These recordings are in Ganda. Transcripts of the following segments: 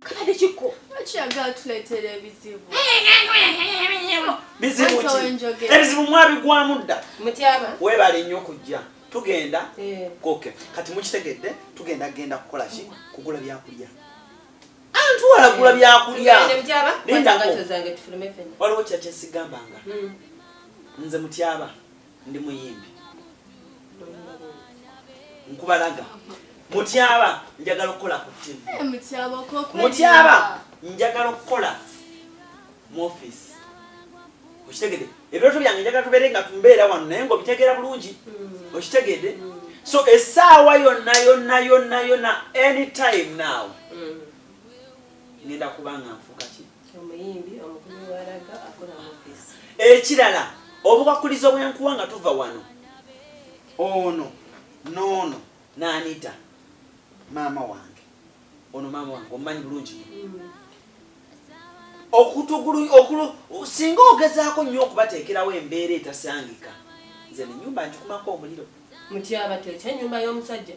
Kale kiko. Achiaga atuletera ebizibu. Bizibu ki? Ebizibu mwabigwamu dda. Mutyaba. Webale nnyo kujja. Tugenda. Eh. Okay. Kati mukitegedde tugenda genda kukola ki? Kugula byakulya. Antu wala gula byakulya. Tugende mutyaba. Linda ko. Waliwo kyakyesigambaanga. Hmm. Nze mutyaba. ndi muyimbi nkubalaga mutyaba njagala okukola ku tv eh, mutyaba njagala okukola mu office okitegede ebirooto byange njagala tubeere nga tumbeera wano naye nga obitegeera bulungi mm. okitegede mm. so esaawa yonna yonna yonna yonna anytime now mm. ngenda kubanga nfuka ekirala obukwakkulizo bwenkuwa nga tuva wano ono noono nanita maama wange ono maama wange omumanyi bulungi okutugulu okulu singa ogezaako nnyo okubateekerawo embeera etasangika nze nenyumba njikumako omuliro mutyaba tekyenyumba y'omusajja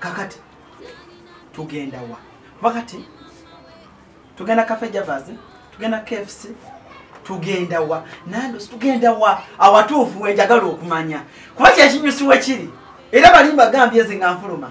kakati tugenda wa kuba kati tugenda cafe javas tugenda kfc tugenda wa nando tugenda wa awatuufu wenjagala okumanya kuba kyekinyusiwe kiri era balimba gambye zi nga nfuluma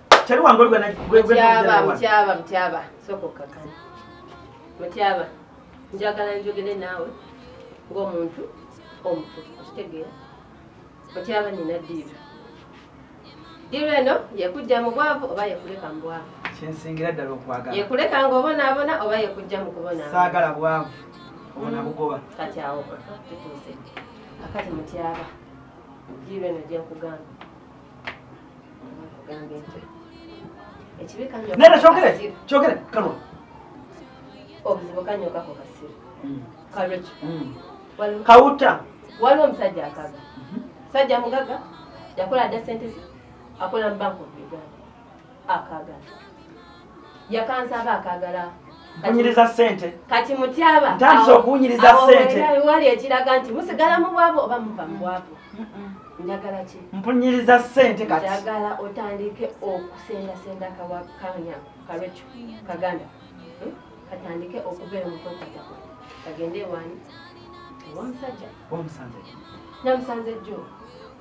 Chali wangoli gwe na gwe gwe. Mtyaba, mtyaba, mtyaba. Soko kaka. Mtyaba. Njagala njogele nawe. Ngo muntu. Omutu. Kitegera. Mtyaba ni nadiru. Diru eno, yekujja mu bwavu oba yekuleka mu bwavu. Chinsingira dalo kwagala. Yekuleka ngo bona abona oba yekujja mu kubona. Sagala bwavu. Ona mm. bugoba. Kati awo. Tutuse. Akati mtyaba. Diru eno je kugamba. nera kyogere kyogere kanwa obuzibu kanyo kako kasiru hmm. kalwekyo hmm. kawuta waliwo omusajja akaga mhm. sajja mugaga yakola da sente akola mu bank of uganda akagala yakansaba akagala kunyiriza sente kati mutyaba ntandise okuwunyiriza sente wali ekiraga nti musigala mu bwavu oba muva mu bwavu njagala ki mpunyiriza sente kati njagala otandike okusendasenda kawakanya kalweco kaganda hmm? katandike okubeera mukwekata kagende ewani omusajja omusajja namusanze jjo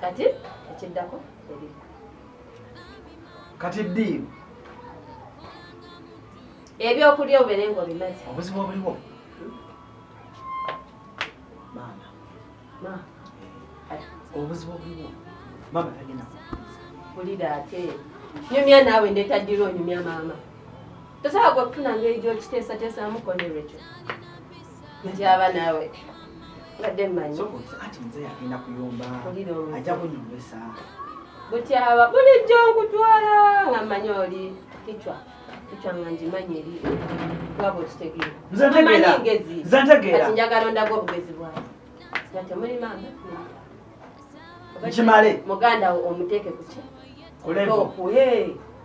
kati ekiddako kati ddiiru ebyokulya obeere nga obimazi obuzibu obuliwo maama obuzibu obuliwo maama tagenda kulira ate nyumya naawe ndetaddira onyumya maama tosobola gwe kufuna ngeri gyokiteesateesamu konerwekyo ndyaba naawe badde mmanyi ati nze yagenda kuyomba ajja kunyumisa butyaba bulijjo nkutwala nga mmanyi oli kicwa kicwa nga ngimanyi eri twaba okitegeera ngezi kati njagala ondaga obugezi bwawe nga temuli maama nkimale muganda wo omuteeke kuki kulevo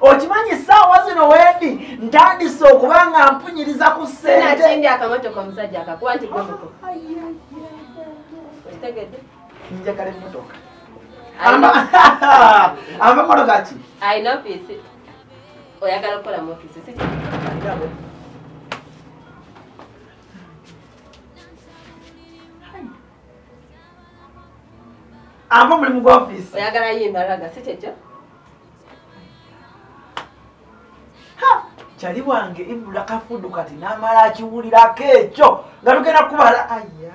okimanyi saawa zino wendi ntandise okuba nga mpunyiriza ku sentenjagala emotoka amamotoka ki oyagala okukola mufisi amba omulimu gwa ofiisi oyagala ye embalaga si kyekyo kyali wange ibula kafudu kati namala akiwulirako ekyo nga tugenda kubala aya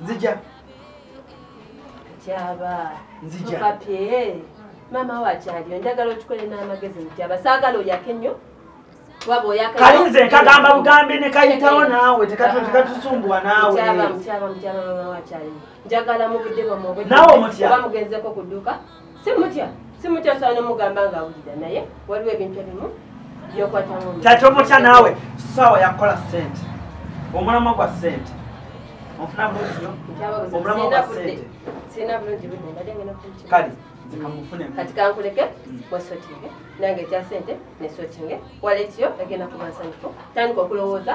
nzija kyaba nzija maama wakyaliyo njagala okikole n'amagezi mutyaba saagala oyake nnyo kali nze nkagamba bugambi nekayitawo naawe tekatusumbuwa nawenaawe omutya simutya simutya sobola nomugamba nga awulira naye waliwo ebintu ebimu byokwatamu kati omutya naawe saawa yakukola sente omulamwa gwa sente onfuna bulungi nyo omulamwa gwa sente sirina bulungi budde mbadde ngena kukyalo kale kati kankuleke wasotinge nange ekya sente nesotinge waletiyo egenda kubansanyufu tandika okulowooza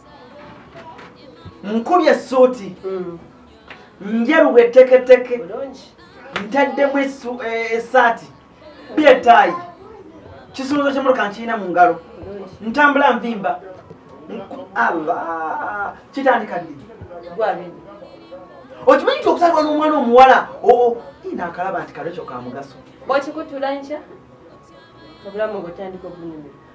nkubye suuti mm. njeruwa eteketeke ntaddemu eh, esaati byetaayi kisuluzo kyemuloka nkirina mu ngalo ntambula nvimba allah kitandika ddi okimanyi nti okusalibwa n'omwana omuwala oo naakalaba nti kalekyo ka mugaso bwakikutula nkya obulamu bwetandika obunyumira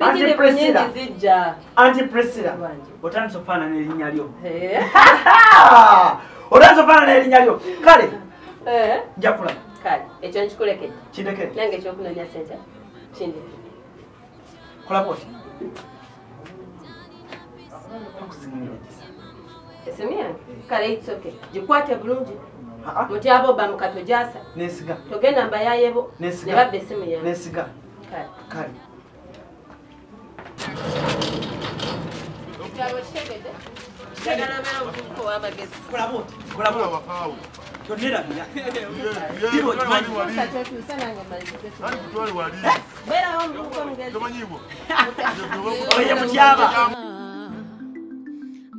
Anti Priscilla. Anti Priscilla. Otandise okufaanana erinnya lyo. Eh. Otandise okufaanana erinnya lyo. Kale. Eh. Nja kulaba. Kale. Ekyo nkikulekede. Kindekede. Nange ekyokunoonya ssente. Kindekede. Kulaba otya. Esemya. Eh. Kale it's okay. Gikwate bulungi. Mutyabo bamukato gyasa. Nesiga. Togenda mbayayebo. Nesiga. Ne babbe esimu yange. Nesiga. kale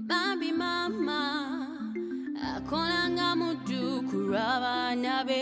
bambi mama akolanga muddu kulwa baana be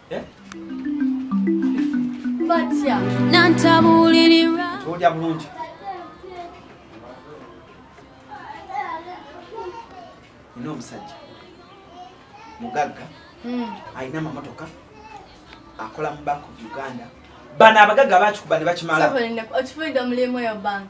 Tuja bulungi. Nina omusajja mugagga hmm. alina amamotoka akola mu bank of Uganda bano abagagga bakikuba ne bakimala. Okifuide omulimu yo bank.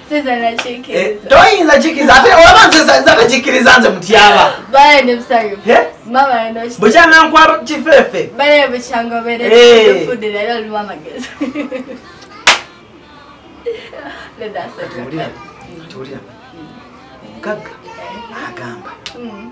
Eh, toyinza kikiriza ate olaba nzeza tekikiriza nze mutyaba bukyanankuwa kifefe mugagga agamba mm.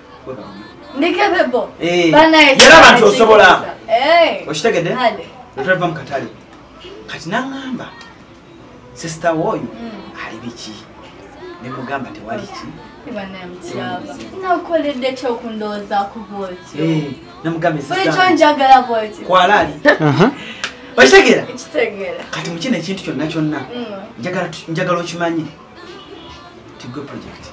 ndikebebo eh. yera abantu osobola eh. okitegedde otulava mu katale kati naŋamba sisita wooyo hmm. ali biki nemugamba tewali ki namugambkwalaali okitegera kati mukino ekintu kyonna kyonna hmm. njagala okimanyi tigwe project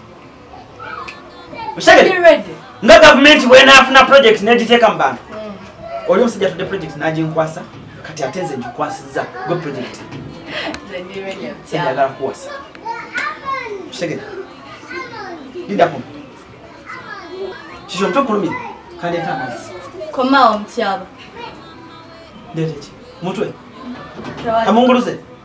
nga gavumenti bwenaafuna project negiteeka mu bantu mm. oli omusajja tudde project naginkwasa kati ate nze ngikwasiza gwe project njagala kuwasa kitegera lindako kikyo mutwe kulumira kandi ete amazzi komawo mutyaba ndeteki mutwe kamunguluze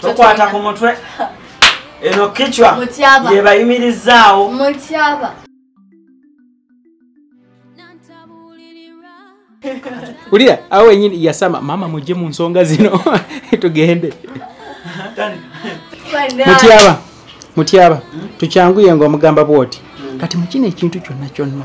tokwata ku mutwe eno kicwa yebayimirizaawo ulira awo wenyini yasama mama mujje mu nsonga zino tugende mutyaba mutyaba tukyanguye nga omugamba bwoti kati mukino ekintu kyonna kyonna